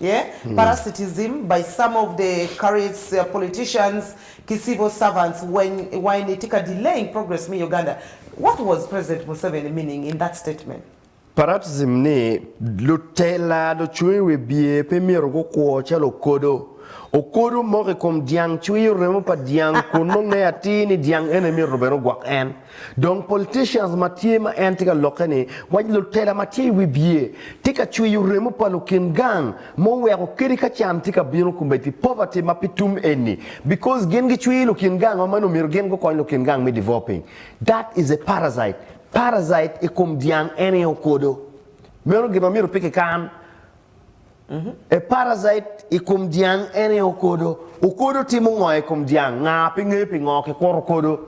Yeah, parasitism by some of the careers, politicians ki civil servants weng iwange ni tye ka delaying progress me Uganda. What was President Museveni meaning in that statement? Parasitism ni lutela, lucung i wi bye pe myero gukwo calo okodo. Okodo moko i kom dyang cwiyo remo pa dyang kun nongo ngeye atir ni dyang ene myero bene ogwok en. Dong politicians ma tye ma en tye ka lokke ni waci lutela ma tye i wi bye tye ka cwiyo remo pa lukin gang ma oweko kadi ka can tye ka bino kombeddi poverty ma pe tum eni because gin gi cwiyo lukin gang ma meno omyero gin gukony lukin gang me developing that is a parasite parasite i kom dyang en aye okodo meno gin ma myero pe kikan. A parasite i kom dyang ene okodo. Okodo timo ngo i kom dyang? Nga pe ngeyo pingo kikuto okodo.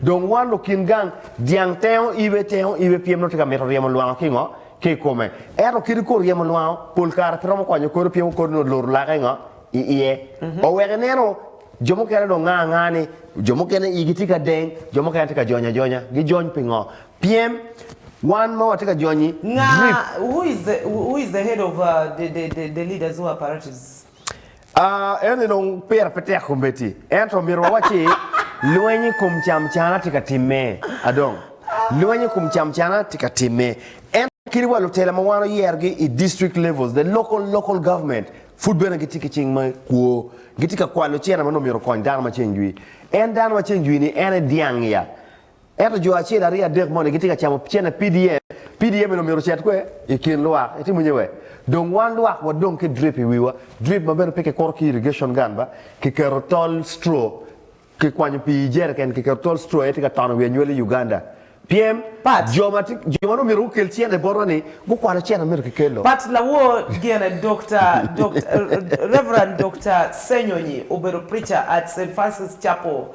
Dong wan lukin gang, dyang tengo ibe, tengo ibe pien nongo tye ka mito ryemo lwango ki ngo? Ki i kome. Ento kit okodo ryemo lwango, pol kare pe romo konyo okodo pien okodo nongo oluto lake ngo? I iye. Oweko ineno jo mukene dong nga anga ni jo mukene igi tye ka deng, jo mukene tye ka jony ajonya. Gijony pingo? Pyem, Wan ma watye ka jonyi Nga drip. who is the who is the head of uh, the, the, the, the leaders who are paratists? Ah, eno-ni dong pire pe tek kombeddi. Ento omyero wawacci, Lweny i kom camcana tye ka timme. A dong, lweny i kom camcana tye ka timme. Ento kit wa lutela ma wan oyerogi i district levels, the local, local government, pud bene gitye ki cing me kwo. Gitye ka kwalo cene ma nongo myero okony dano ma ceng jwi. En dano ma ceng jwi-ni en aye dyang-ngi ya. Ento jo acel, aryo, adek moni gitye ka camo cene PDM, PDM eni omyero ocet kwer i kin lwak, itimo nye wer? Dong wan lwak wadong ki drip i wiwa, drip ma bene pe kikuro ki irrigation gun ba, kiketo tol straw, kikwanyo pii i jerrican kiketo tol straw aye tye ka tono wi anywali i Uganda. Pyem, Pat. jo ma tye, jo ma nongo myero gukel cene botwa ni gukwalo cene ma myero kikelo. Pat lawor gene Dokta, Dokta, Rev. Dokta Senyonyi obedo preacher at Saint Francis Chapel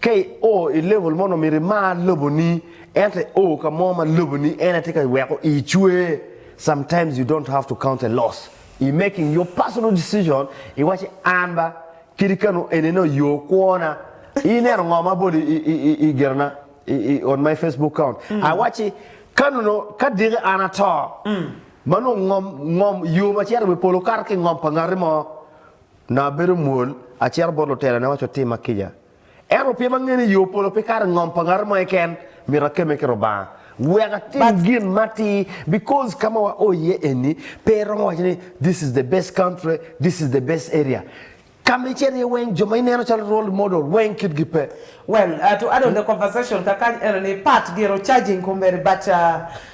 Ka i o i level mono myero i mar lobo ni ento i o ka mo ma lobo ni en aye tye ka weko i cwer sometimes you don't have to count a loss i making your personal decision i waci an ba kadi kanu eni no yo kwona i neno ngo ma abolo i gina na i on my Facebook count a waci kanu no ka diki an ato ma nongo ngom ngom yo ma cito i wi polo kato ki ngom pa ngati mo Nongo abedo mwol, acito bot lutelone awaco otimma kica. Ento pien angeyo ni yo polo pe kato i ngom pa ngat mo keken, myero akemme ki Lubanga. Wek atim gin ma atir because ka ma wao iye eni pe iromo waco ni this is the best country, this is the best area. Ka ma icito iye weng jo ma ineno calo role model weng kitgi pe. Well, to add on the conversation kakany enoni, part gire o charging kombeddi but.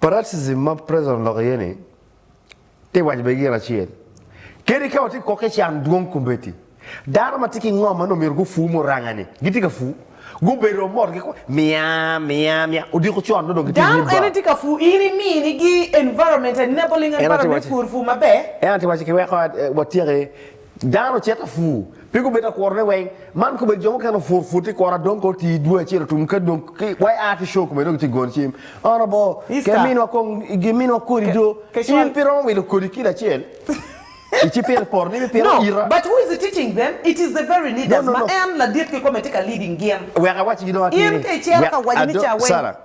Parasitism ma Preston oloko iye ni, Ti waco bene gin acel, Kadi ka watye kwo ki can dwong kombeddi, dano ma tye ki ngom ma nongo myero gufu muranga-ni gitye ka fu. Gubedo wa mot gikwayo, Miya, miya, miya. Odiko con nongo dong gitye i nyim Dano ene tye ka fu. In imini gi environment, enabling environment me pur pur maber. En aye ti waco kiweko watye ki Dano ocito apur, pe gubedo akurone weng. Man kobedo jo mukene opur pur ti kura dong kor tii dwe acel otum ka dong wa aa ki show kome dong iti gono cim ono bo ke minwa kong gi minwa kodi do in pi romo wilo kodi kilo acel ici pire poto ni mi pire ita. But who is teaching them? It is the very leaders ma en ladit ki kome ti ka leading gin. Wek awaci gi dong atir ni. In ka icero ka waco ni ca weng. Sarah,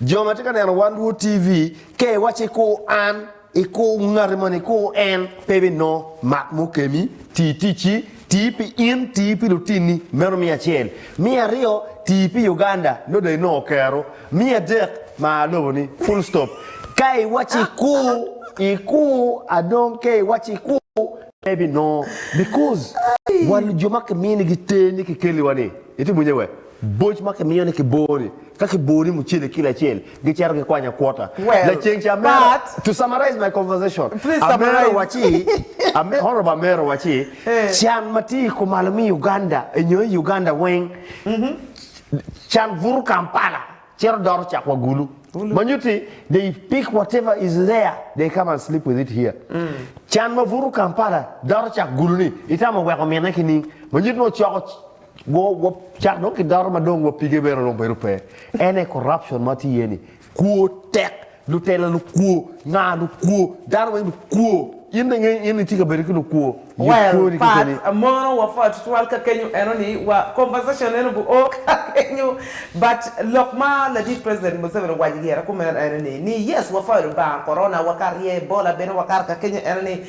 jo ma ti ka neno wan Rwot TV, ka iwaci ku an. I kor ngati moni, i kor en, pe ibinongo mak mukemi. Ti ticci, ti pi in, ti pi lutinni, meno miya acel. Miya aryo, ti pi Uganda, nongo dong inongo kero. Miya adek, mar loboni, full stop. Ka iwaco i kor, i kor, a dong ka iwaco i kor, pe ibinongo, because wan jo ma kiminigi ter ni kikeliwa-ni, itye bwunye we? Boc ma kimiyo ni kiboo ni, ka kiboo ni mucele kilo acel, gicito gikwanyo akwota. Laceng ca amera, to summarize my conversation, amera waci, honorable amera waci, can ma tye kumalo me Uganda nyo i Uganda weng, can buto Kampala cito doro cak wa Gulu. Ma nyutti they pick whatever is there, they come and sleep with it here. Can ma buto Kampala doro cak Gulu ni, itamo weko mine ki ning? Ma nyutti nongo coko. Wa wa cak dong ki dato ma dong wa pige bene dong bedo pe en aye corruption ma tye iye ni kwo tek lutela lukwo nga lukwo dano weng lukwo in dong inge in itye ka bedo ki lukwo yub Well, kwoni pat kekeni. mono wa pwod tutwal ka kenyo eno ni wa conversation eno bu oo ka kenyo but lok ma ladit president Museveni owaco i yera kumeno eno ni ni yes wa pwod Lubanga corona wa ka rye Ebola bene wakato ka kenyo eno ni